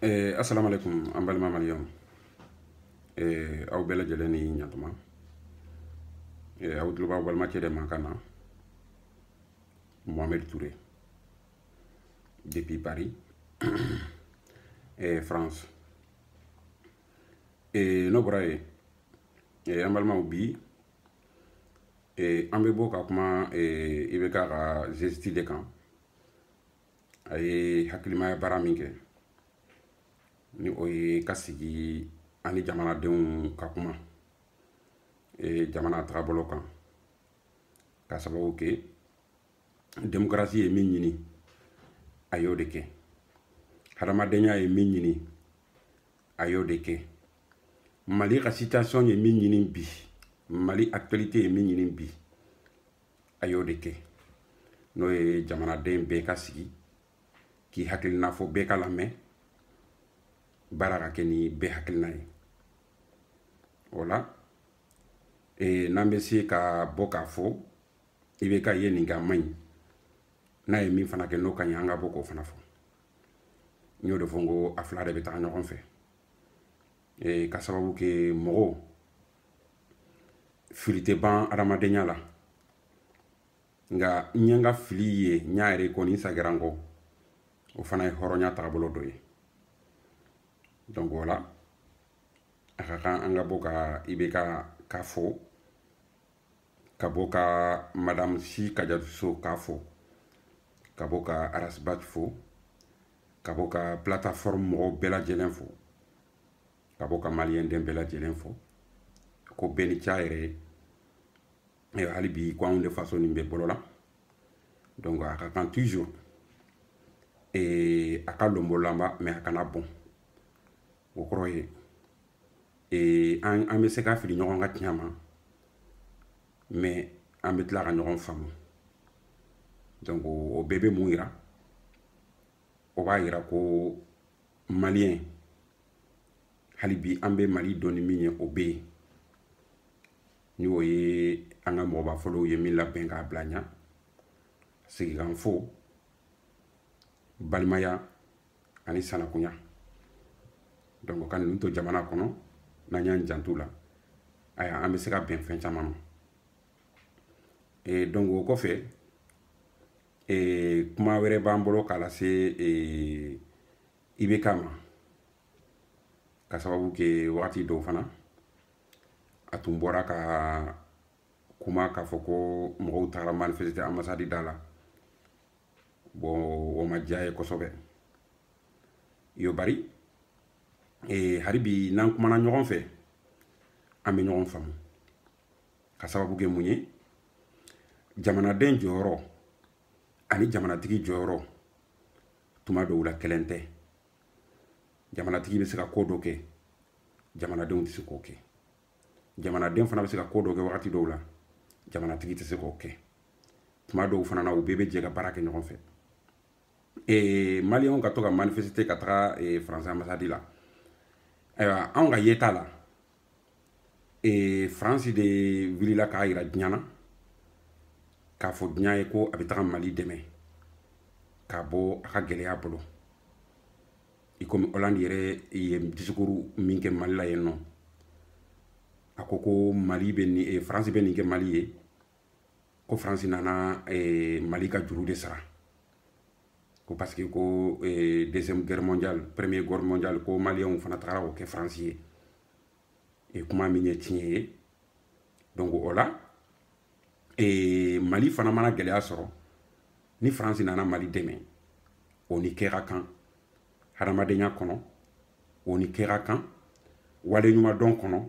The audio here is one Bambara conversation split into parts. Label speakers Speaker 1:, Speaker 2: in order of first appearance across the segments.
Speaker 1: Eh, assalamu alaikum an balima maliyɛnw eh, aw bɛɛ lajɛlen ni yan tuma eh, aw tulo b'aw balimakɛ de mankan na mohamed touré depuis paris eh, france eh, n'o bɔra yen eh, an balimaw bi eh, an bɛ bɔ ka kuma eh, ibk ka geste de kan a ye hakilimaya baara min kɛ ni o ye ka sigi ani jamanadenw ka kuma e, jamana tagabolo kan ka sababu kɛ demokarasi ye min ɲini a y'o de kɛ hadamadenya ye min ɲini a y'o de kɛ mali ka situation ye min ɲini bi mali actualité ye min ɲini bi a y'o de kɛ n'o ye jamanaden bɛɛ ka sigi k'i hakilina fɔ bɛɛ ka lamɛn baara ka kɛ ni bɛɛ hakilina ye o la e, n'an bɛ se ka bɔ k'a fɔ ibk ye nin kɛ a man ɲi n'a ye min fana kɛ n'o ka ɲi an ka bɔ k'o fana fɔ n y'o de fɔ n ko a fila de bɛ taga ɲɔgɔn fɛ e, ka sababu kɛ mɔgɔw fili tɛ ban adamadenya la nka n ye n ka fili ye n y'a reconnu n sagira n kɔ o fana ye hɔrɔnya tagabolo dɔ ye donc o la a ka kan an ka bɔ ka ibk k'a fo ka bɔ ka madame sy kadiatou sow k'a fo ka bɔ ka ras bath fo ka bɔ ka plataforme mɔgɔw bɛɛ lajɛlen fo ka bɔ ka maliyɛn den bɛɛ lajɛlen fo ko bɛɛ ni ce a y'a yira hali bi ko anw de faso nin bɛ bolo la donc a ka kan toujours a ka lonbolanba mais a kana bɔn o kɔrɔ ye ee an an bɛ se ka fili ɲɔgɔn ka tiɲɛ ma mais an bɛ tila ka ɲɔgɔn faamu donc o bɛɛ bɛ mun yira o b'a yira ko maliyɛn hali bi an bɛ mali dɔn ni min ye o bɛ yen ni o ye an ka mɔgɔba fɔlɔw ye min labɛn k'a bila an ɲa sigikafɔ balimaya ani sanankunya donc ka ninnu to jamana kɔnɔ n'an y'an janto u la aya an bɛ se ka bɛn fɛn caman ma e donc o kɔfɛ ee, kuma wɛrɛ b'an bolo k'a lase ee, IBK ma ka sababu kɛ wagati dɔw fana a tun bɔra ka kuma k'a fɔ ko mɔgɔw tagara manifeste ambassade da la bon o ma diy'a ye kosɛbɛ yo bari e, hali bi n'an kumana ɲɔgɔn fɛ an bɛ ɲɔgɔn faamu ka sababu kɛ mun ye jamanaden jɔyɔrɔ ani jamanatigi jɔyɔrɔ tuma dɔw la kelen tɛ jamanatigi bɛ se ka ko dɔ kɛ jamanadenw tɛ se k'o kɛ jamanaden fana bɛ se ka ko dɔ kɛ wagati dɔw la jamanatigi tɛ se k'o kɛ tuma dɔw fana na u bɛɛ bɛ jɛ ka baara kɛ ɲɔgɔn fɛ ee maliyɛnw ka to ka manifesite ka taga faransi anbasadi la ayiwa anw ka yeta la ee faransi de wulila k'a yira diɲa na k'a fɔ diɲa ye ko a bɛ taga mali dɛmɛ k'a bɔ a ka gɛlɛya bolo i komi hollande yɛrɛ ye disikuru min kɛ mali la yen nɔ a ko ko mali bɛ ni eh, faransi bɛ nin kɛ mali ye ko faransi nana eh, mali ka juru de sara ko parce que ko eh, deuxième guerre mondiale premier guerre mondiale ko maliyɛnw fana tagara k'o kɛ faransi ye e kuma min ye tiɲɛ ye donc o la e, mali fana mana gɛlɛya sɔrɔ ni faransi nana mali dɛmɛ o ni kɛ ka kan hadamadenya kɔnɔ o ni kɛ ka kan waleɲumandɔn kɔnɔ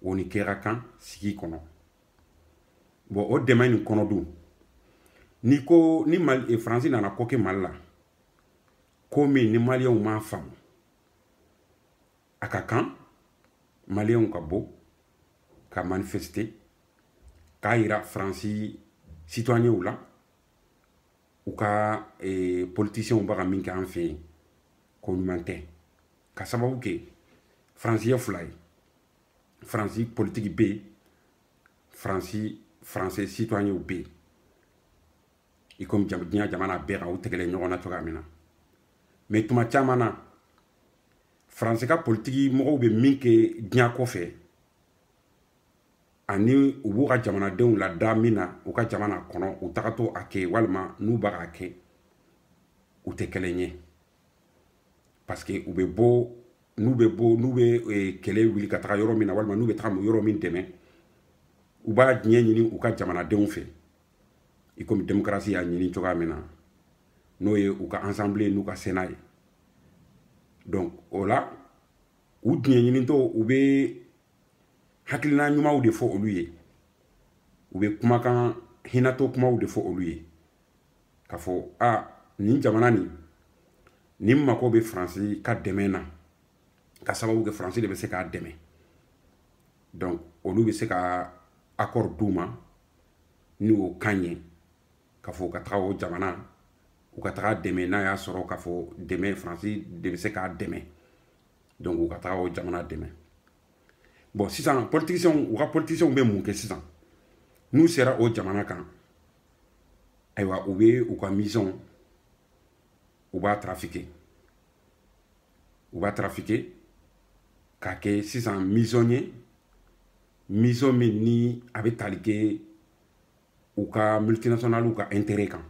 Speaker 1: o ni kɛ ka kan sigi kɔnɔ bɔn o dɛmɛ nin kɔnɔ dun n'i ko ni mali eh, faransi nana ko kɛ mali la ko min ni maliyɛnw m'a faamu a ka kan maliyɛnw ka bɔ ka manifeste k'a yira faransi sitoyɛnw la u ka eh, politisiyɛnw bɛ ka min kɛ an fɛ yen ko ɲuman tɛ ka sababu kɛ faransi ye fila ye faransi politiki bɛ yen faransi faransi sitoyɛnw bɛ yen i komi diɲɛ jamana bɛɛ kan u tɛgɛlen ɲɔgɔn na cogoya min na mɛ tuma caman na faransi ka politiki mɔgɔw bɛ min kɛ diɲɛ kɔfɛ ani u b'u ka jamanadenw lada min na u ka jamana kɔnɔ u tagatɔ a kɛ walima n'u bɛ k'a kɛ u tɛ kelen ye parce que u bɛ bɔ n'u bɛ bɔ n'u bɛ eh, kɛlɛ wuli ka taga yɔrɔ min na walima n'u bɛ taga yɔrɔ min dɛmɛ u b'a diɲɛ ɲini u ka jamanadenw fɛ i komi demokarasi y'a ɲini cogoya min na n'o ye u ka assemblée n'u ka sena ye donc o la u diɲɛ ɲinitɔ u bɛ hakilina ɲumanw de fɔ olu ye u bɛ kumakan hinatɔ kumaw de fɔ olu ye k'a fɔ a nin jamana nin nin mako bɛ faransi ka dɛmɛ na k'a sababu kɛ faransi de bɛ se k'a dɛmɛ donc olu bɛ se ka accord d'u ma ni o kan ye k'a fɔ u ka taga o jamana u ka taga dɛmɛ n'a y'a sɔrɔ k'a fɔ dɛmɛ faransi de bɛ se k'a dɛmɛ donc u ka taga o jamana dɛmɛ bon sisan politiciens u ka politiciens bɛ mun kɛ sisan n'u sera o jamana kan ayiwa u bɛ u ka misɔn u b'a tarafike u b'a tarafike k'a kɛ sisan misɔn ye misɔn min ni a bɛ tali kɛ u ka multinationaliw ka intérêt kan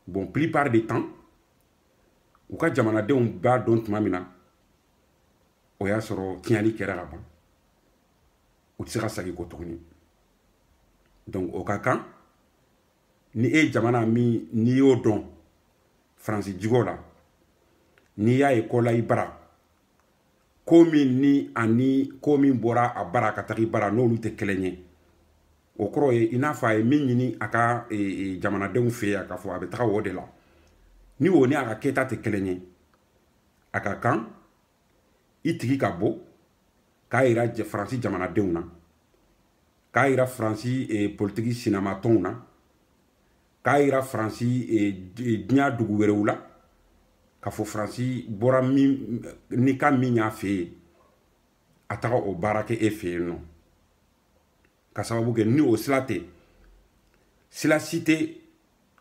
Speaker 1: bon plupart de temps u ka jamanadenw b'a dɔn tuma min na o y'a sɔrɔ tiɲɛni kɛra ka ban u tɛ se ka segin kɔ tuguni donc a ka kan ni e ye jamana min n'i y'o dɔn faransi jogo la n'i y'a ye kɔla i bara ko min ni ani ko min bɔra a bara ka taga i bara n'olu tɛ kelen ye o kɔrɔ ye i n'a fɔ a ye min ɲini a ka e, e, jamanadenw fɛ yan k'a fɔ a bɛ taga o de la ni o ni a ka kɛta tɛ kelen ye a ka kan i tigi ka bɔ k'a yira faransi jamanadenw na k'a yira faransi eh, politiki sinamatɔnw na k'a yira faransi eh, diɲɛ dugu wɛrɛw la k'a fɔ faransi bɔra min ni kan min y'a fɛ yen a taga o baara kɛ e fɛ yen nɔ k'a sababu kɛ ni o sila tɛ sila si tɛ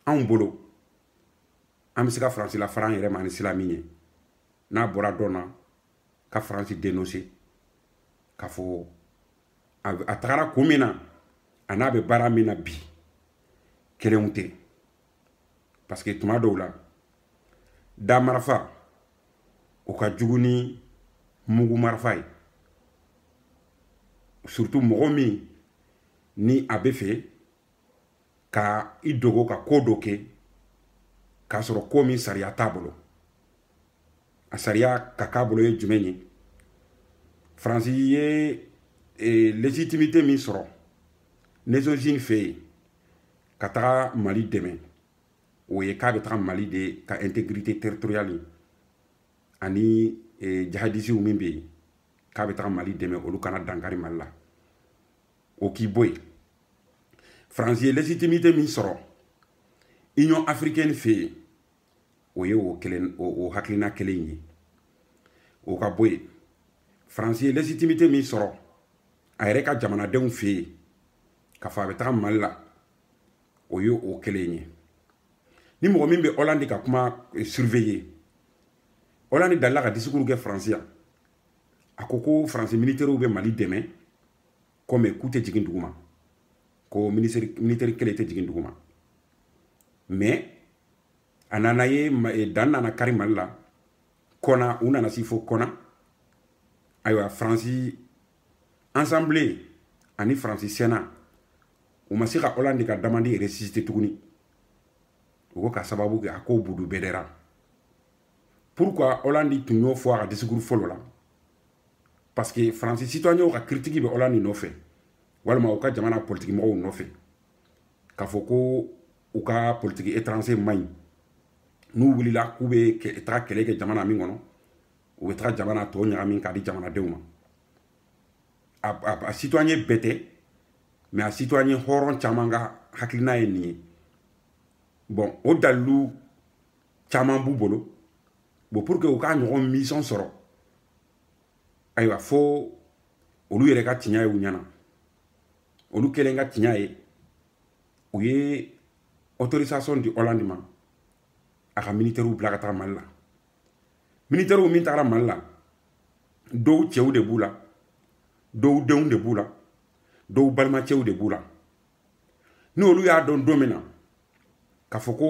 Speaker 1: anw bolo an bɛ se ka faransi lafara an yɛrɛ ma ni sila min ye n'a bɔra dɔn na ka faransi denonse k'a fɔ a tagara kun min na a n'a bɛ baara min na bi kelenw tɛ parce que tuma dɔw la da marafa o ka jugu ni mugu marafa ye surtout mɔgɔ min ni a bɛ fɛ ka i dogo ka ko dɔ kɛ k'a sɔrɔ ko min sariya t'a bolo a sariya ka k'a bolo ye jumɛn ye faransi ye e, légitimité min sɔrɔ nations unies fɛ yen ka taga mali dɛmɛ o ye k'a bɛ taga mali de ka intégrité territoriale ani e, jihadisiw min bɛ yen k'a bɛ taga mali dɛmɛ olu kana dankari mali la o k'i bɔ yen faransi ye légitimité min sɔrɔ union africaine fɛ yen o ye o kelen o hakilina kelen ye o ka bɔ yen faransi ye légitimité min sɔrɔ a yɛrɛ ka jamanadenw fɛ yen k'a fɔ a bɛ taga mali la o ye o kelen ye ni mɔgɔ min bɛ ɔlandi ka kuma eh, surveiller ɔlandi dalila ka disikuru kɛ faransi yan a ko ko faransi militɛriw bɛ mali dɛmɛ ko mais k'u tɛ jigin duguma ko militɛri kelen tɛ jigin duguma mais a nana ye eh, dan nana kari mali la kɔna u nana se fo kɔna ayiwa faransi assemblée ani faransi sénat u ma se ka hollande ka demande résister tuguni u ko ka sababu kɛ a ko budu bɛdɛra pourquoi hollande tun y'o fɔ a ka disikuru fɔlɔ la parce que faransi citoyenw ka kiritiki bɛ hollande nɔfɛ walima u ka jamana politiki mɔgɔw nɔfɛ k'a fɔ ko u ka politiki étranger man ɲi n'u wulila k'u bɛ taga kɛlɛ kɛ jamana min kɔnɔ u bɛ taga jamana tɔ ɲagami k'a di jamanadenw ma a citoyen bɛɛ tɛ mais a citoyen hɔrɔn caman ka hakilina ye nin ye bon o dalilu caman b'u bolo bon pour que u k'a ɲɔgɔn mission sɔrɔ ayiwa fo olu yɛrɛ ka tiɲa ye u ɲɛ na olu kɛlen ka tiɲa ye u ye autorisation di hollande ma a ka militɛriw bila ka taga mali la militɛriw min tagara mali la dɔw cɛw de b'u la dɔw denw de b'u la dɔw balimacɛw de b'u la n'olu y'a dɔn don min na k'a fɔ ko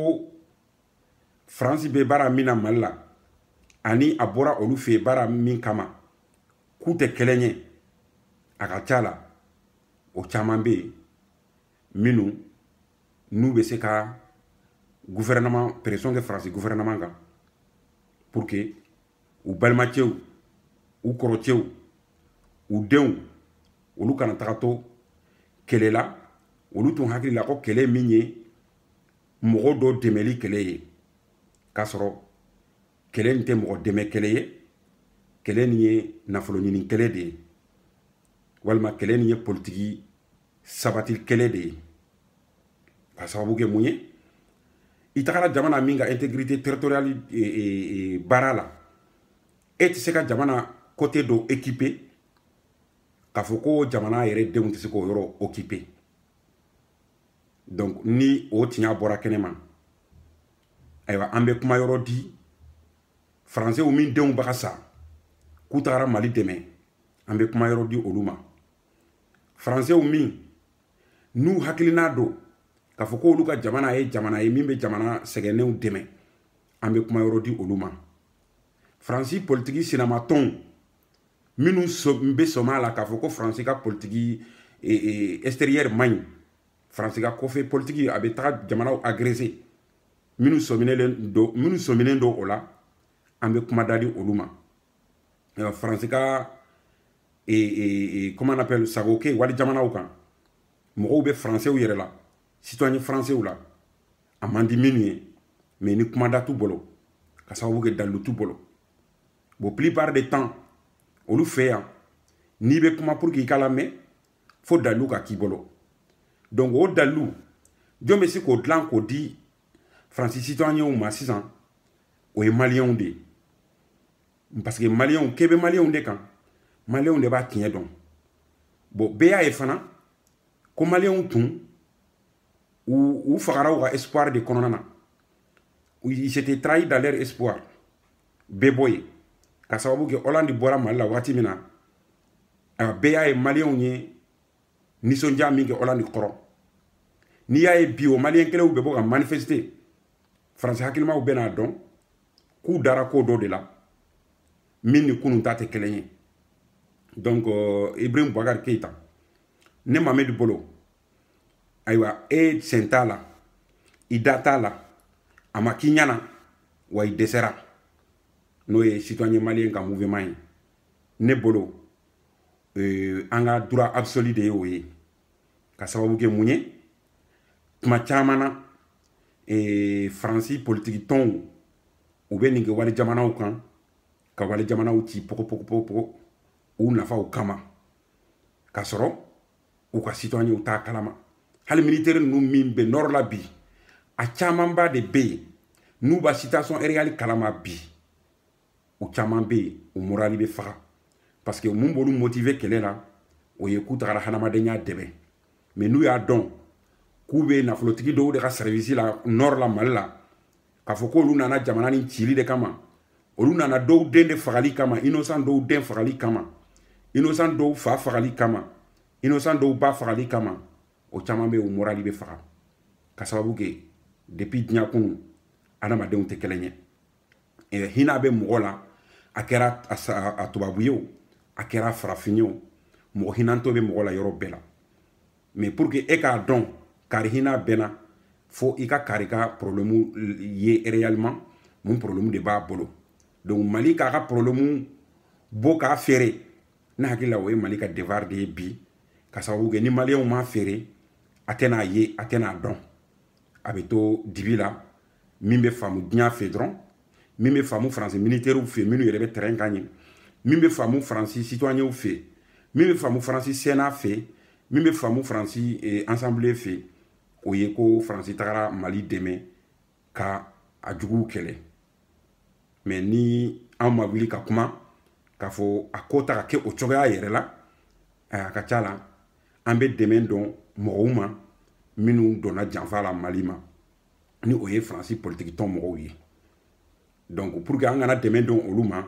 Speaker 1: faransi bɛ baara min na mali la ani a bɔra olu fɛ yen baara min kama k'u tɛ kelen ye a ka ca la o caman bɛ yen minnu n'u bɛ se ka gouvernement pression kɛ faransi gouvernement kan pour que u balimacɛw u kɔrɔcɛw u denw olu kana taga to kɛlɛ la olu tun hakili la ko kɛlɛ min ye mɔgɔ dɔ dɛmɛli kɛlɛ ye k'a sɔrɔ kɛlɛ nin tɛ mɔgɔ dɛmɛ kɛlɛ ye kɛlɛ nin ye nafolo ɲini kɛlɛ de ye walima kɛlɛ nin ye politiki sabati kɛlɛ de ye ka sababu kɛ mun ye i tagara jamana min ka intégrité territoriale e, e, e, baara la e tɛ se ka jamana côté dɔ occuper k'a fɔ ko jamana yɛrɛ denw tɛ se k'o yɔrɔ occuper donc ni o tiɲa bɔra kɛnɛ ma ayiwa an bɛ kuma yɔrɔ di faransew min denw bɛ ka sa k'u tagara mali dɛmɛ an bɛ kuma yɔrɔ di olu ma faransew minnu hakilina don k'a fɔ k'olu ka jamana ye jamana ye min bɛ jamana sɛgɛnnenw dɛmɛ an bɛ kuma yɔrɔ di olu ma faransi politiki sinamatɔnw minnu bɛ sɔm'a la k'a fɔ ko faransi ka politiki e, e, extérieure man ɲi faransi ka kɔfɛ politiki a bɛ taga jamanaw agrese minnu sɔminen don minnu sɔminen don o la an bɛ kuma da di olu ma faransi ka e, comment on appelle sago kɛ wali jamanaw kan mɔgɔw bɛ faransew yɛrɛ la citoyen faransew la a man di minnu ye mais ni kuma da t'u bolo ka sababu kɛ dalilu t'u bolo bon plupart de temps olu fɛ yan n'i bɛ kuma pour que i ka lamɛn fo dalilu ka k'i bolo donc o dalilu jɔn bɛ se k'o dilan k'o di faransi citoyenw ma sisan o ye maliyɛnw de ye parce que maliyɛnw k'e bɛ maliyɛnw de kan maliyɛnw de b'a tiɲɛ dɔn bon bɛɛ y'a ye fana ko maliyɛnw tun u fagara u ka espoir de kɔnɔna na ils étaient trahis dans leur espoir bɛɛ b'o ye ka sababu kɛ ɔlandi bɔra mali la wagati min na a bɛɛ y'a ye maliyɛnw ye nisɔndiya min kɛ ɔlandi kɔrɔ n'i y'a ye bi o maliyɛn kelenw bɛ bɔ ka manifeste faransi hakilimaw bɛna dɔn k'u dara ko dɔ de la min ni kunun ta tɛ kelen ye donc euh, ibrahim bakari keyita ne mamadu bolo ayiwa e sen t'a la i da t'a la a ma k'i ɲana wa i dɛsɛra n'o ye citoyen maliyɛn ka mouvement ye ne bolo euh, an ka droit absolu de ye o ye ka sababu kɛ mun ye tuma caman na eh, faransi politiki tɔnw u bɛ nin kɛ wali jamanaw kan ka wali jamanaw ci pogo pogo pogo pogo u nafaw kama k'a sɔrɔ u ka citoyenw t'a kalama hali militeri ninnu min bɛ nɔrɔ la bi a camanba de bɛ yen n'u b'a situation réelle kalama bi u caman bɛ yen u morali bɛ faga parce que mun b'olu motive kɛlɛ la o ye k'u tagara hadamadenya dɛmɛ mais n'u y'a dɔn k'u bɛ nafolotigi dɔw de ka sɛrivisi la nɔrɔ la mali la k'a fɔ k'olu nana jamana nin cili de kama olu nana dɔw den de fagali kama innocent dɔw den fagali kama innocent dɔw fa fagali kama innocent dɔw ba fagali kama o caman bɛ o morali bɛ faga ka sababu kɛ depuis diɲɛ kɔnɔ adamadenw tɛ kelen ye eh, hinɛ bɛ mɔgɔ la a kɛra a tubabu ye o a kɛra farafin ye o mɔgɔ hinantɔ bɛ mɔgɔ la yɔrɔ bɛɛ la mais pour que e k'a dɔn kari hina bɛnna fo i ka kari ka problème ye réellement mun problème de b'a bolo donc mali k'a ka problème bɔ k'a feere ne hakili la o ye mali ka devoir de ye bi ka sababu kɛ ni maliyɛnw m'a feere a tɛna ye a tɛna dɔn a bɛ to dibi la min bɛ faamu diɲɛ fɛ dɔrɔn min bɛ faamu faransi militɛriw fɛ minnu yɛrɛ bɛ terɛn kan yen min bɛ faamu faransi citoyenw fɛ min bɛ faamu faransi sena fɛ min bɛ faamu faransi eh, ansanbile fɛ o ye ko faransi tagara mali dɛmɛ ka a juguw kɛlɛ mais ni an ma wuli ka kuma k'a fɔ a ko tɛ ka kɛ o cogoya yɛrɛ la a ka ca la an bɛ dɛmɛ don mɔgɔw ma minnu donna janfa la mali ma ni o ye faransi politiki tɔn mɔgɔw ye donc pour que an kana dɛmɛ don olu ma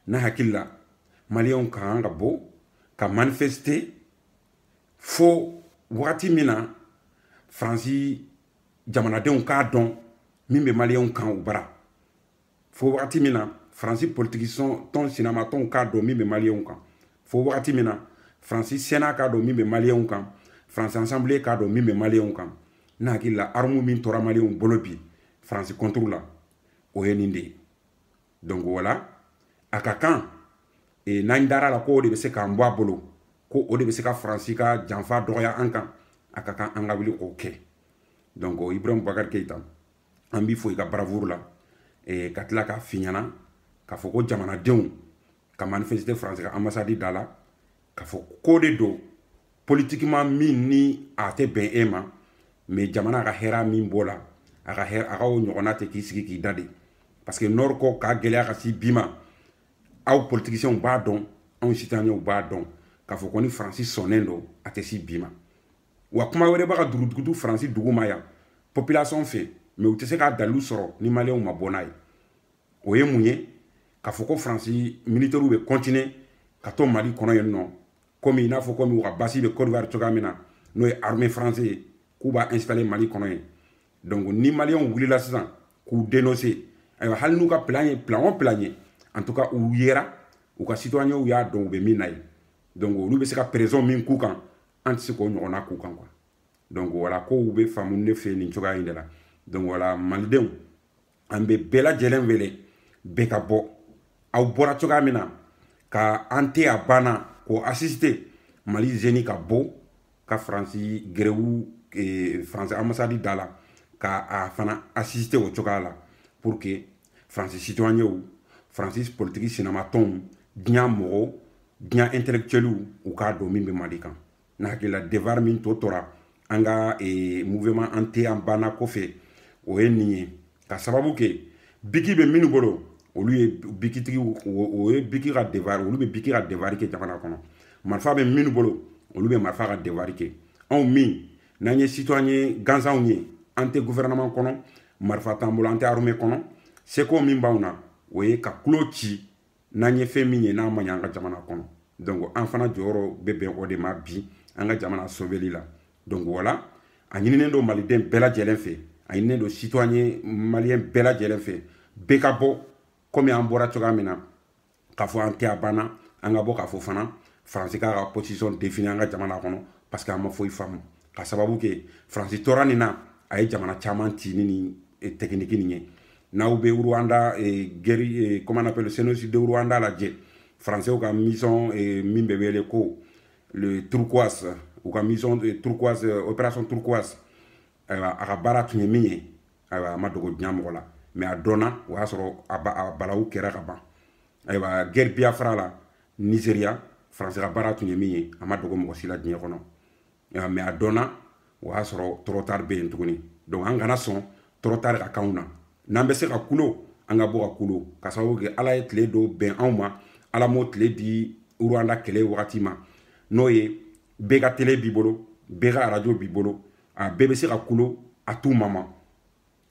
Speaker 1: ne hakili la maliyɛnw ka kan ka bɔ ka manifeste fo wagati min na faransi jamanadenw k'a dɔn min bɛ maliyɛnw kan u bara fo wagati min na faransi politiki tɔn sinamatɔnw k'a dɔn min bɛ maliyɛnw kan fo wagati min na faransi sena k'a dɔn min bɛ maliyɛnw kan faransi ansanbile k'a dɔn min bɛ maliyɛnw kan ne hakili la armu min tora maliyɛnw bolo bi faransi kɔnturu la o ye nin de ye donc voilà a ka kan e, n'an dar'a la ko o de bɛ se k'an bɔ a bolo ko o de bɛ se ka faransi ka janfa dɔgɔya an kan a ka kan an ka wuli k'o kɛ donc ibrahim bubakari keyita an b'i fo i ka baravuru la eh, ka tila k'a f'i ɲana k'a fɔ ko jamanadenw ka manifeste faransi ka ambasadi da la k'a fɔ ko de don politiquement min ni a tɛ bɛn e ma mais jamana ka hɛra min b'o la a ka hɛra a ka o ɲɔgɔnna tɛ k'i sigi k'i da de parce que nɔri ko ka gɛlɛya ka se bi ma aw politisiyɛnw b'a dɔn anw citoyenw b'a dɔn k'a fɔ ko ni faransi sɔnnen don a tɛ se bi ma wa kuma wɛrɛ b'a ka dugudugutu faransi duguma yan population fɛ mais u tɛ se k'a dalilu sɔrɔ ni maliyɛnw ma bɔ n'a ye o ye mun ye k'a fɔ ko faransi militɛriw bɛ kɔntine ka to mali kɔnɔ yen nɔ komi i n'a fɔ komi u ka base bɛ kodiwari cogoya min na n'o ye armée faransi ye k'u b'a installe mali kɔnɔ yen donc ni maliyɛnw wulila sisan k'u denonse ayiwa hali n'u ka plan ye plan o plan ye en tout cas u yera u ka citoyenw y'a dɔn u bɛ min na yen donc olu bɛ se ka pression min k'u kan an tɛ se k'o ɲɔgɔnna k'u kan quoi donc voilà kow bɛ faamu ne fɛ nin cogoya in de la donc voilà malidenw an bɛ bɛɛ lajɛlen wele bɛɛ ka bɔ aw bɔra cogoya min na ka an tɛ a bana k'o asisite mali zeni ka bɔ ka faransi gɛrɛwu eh, faransi ambasadi da la ka a fana asisite o cogoya la pour que faransi citoyenw faransi politiki sinamatɔnw diɲɛ mɔgɔw diɲɛ intellectuelw u k'a dɔn min bɛ mali kan ne hakilila devoir min to tora an ka e, mouvement an tɛ a banna kɔfɛ o ye nin ye ka sababu kɛ biki bɛ minnu bolo olu ye bikitigi o ye biki ka devoir olu bɛ biki ka devoir kɛ jamana kɔnɔ marifa bɛ minnu bolo olu bɛ marifa ka devoir kɛ anw min n'an ye citoyen gansanw ye an tɛ gouvernement kɔnɔ marifa t'an bolo an tɛ armée kɔnɔ seko min b'anw na o ye ka kulo ci n'an ye fɛn min ye n'a ma ɲɛ an ka jamana kɔnɔ donc an fana jɔyɔrɔ bɛ bɛn o de ma bi an ka jamana sobeli la donc wala a ɲininen don maliden bɛɛ lajɛlen fɛ a ɲininen don citoyen maliyɛn bɛɛ lajɛlen fɛ bɛɛ ka bɔ komi an bɔra cogoya min na k'a fɔ an tɛ a banna an ka bɔ k'a fɔ fana faransi k'a ka position défini an ka jamana kɔnɔ parce que an ma foyi faamu ka sababu kɛ faransi tora nin na a ye jamana caman ci ni nin eh, tɛkiniki nin ye n'aw bɛ rwanda eh, gɛri eh, comment on appelle génocide rwanda lajɛ faransiw ka mission min bɛ wele ko le turquoise u ka mission turquoise opération turquoise ayiwa a ka baara tun ye min ye ayiwa a ma dogo diɲɛ mɔgɔ la mais a dɔnna o y'a sɔrɔ a balawu kɛra ka ban ayiwa gɛri biafra la nigeria faransi ka baara tun ye min ye a ma dogo mɔgɔ si la diɲɛ kɔnɔ nka mais a dɔnna o y'a sɔrɔ trop tard bɛ yen tuguni donc an kana sɔn trop tard ka k'anw na n'an bɛ se ka kulo an ka bɔ ka kulo ka sababu kɛ ala ye tile dɔw bɛn anw ma ala m'o tile di rwanda kɛlɛ wagati ma n'o ye bɛɛ ka tele b'i bolo bɛɛ ka arajo b'i bolo a bɛɛ bɛ se ka kulo a tuma ma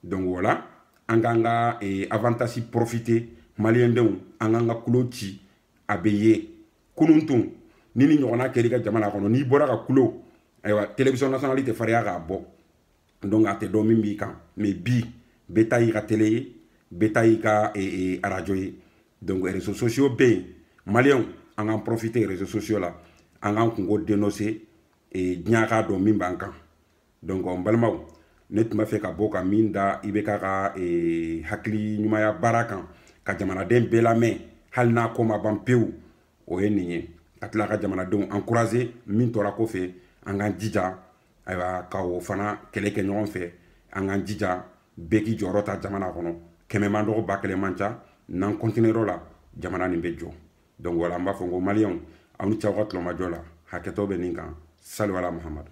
Speaker 1: donc wala an k'an ka eh, avantage profiter malidenw an k'an ka kulo ci a bɛ ye kunun tun ni nin ɲɔgɔnna kɛra i ka jamana kɔnɔ n'i bɔra ka kulo ayiwa télévision nationale tɛ fariya k'a bɔ donc a tɛ dɔn min b'i kan mais bi bɛɛ ta y'i ka télé ye bɛɛ ta y'i ka eh, eh, arajo ye donc réseaux sociaux bɛ yen maliyɛnw an k'an profiter réseaux sociaux la an k'an kunko dénoncer diɲɛ k'a dɔn min b'an kan donc n balimaw ne tun b'a fɛ ka bɔ ka min da ibk ka eh, hakili ɲumaya baara kan ka jamanaden bɛɛ lamɛn hali n'a ko ma ban pewu o ye nin ye ka tila ka jamanadenw encourager min tora kɔfɛ an k'an jija ayiwa ka o fana kɛlɛ kɛ ɲɔgɔn fɛ an k'an jija bɛɛ k'i jɔyɔrɔ ta jamana kɔnɔ kɛmɛ man dɔgɔ ba kelen man ca n'an kɔntiniyer'o la jamana nin bɛ jɔ donc wala an b'a fɔ ko maliyɛnw aw ni ce aw ka tulomajɔ la hakɛto bɛ nin kan saliwala mahamadu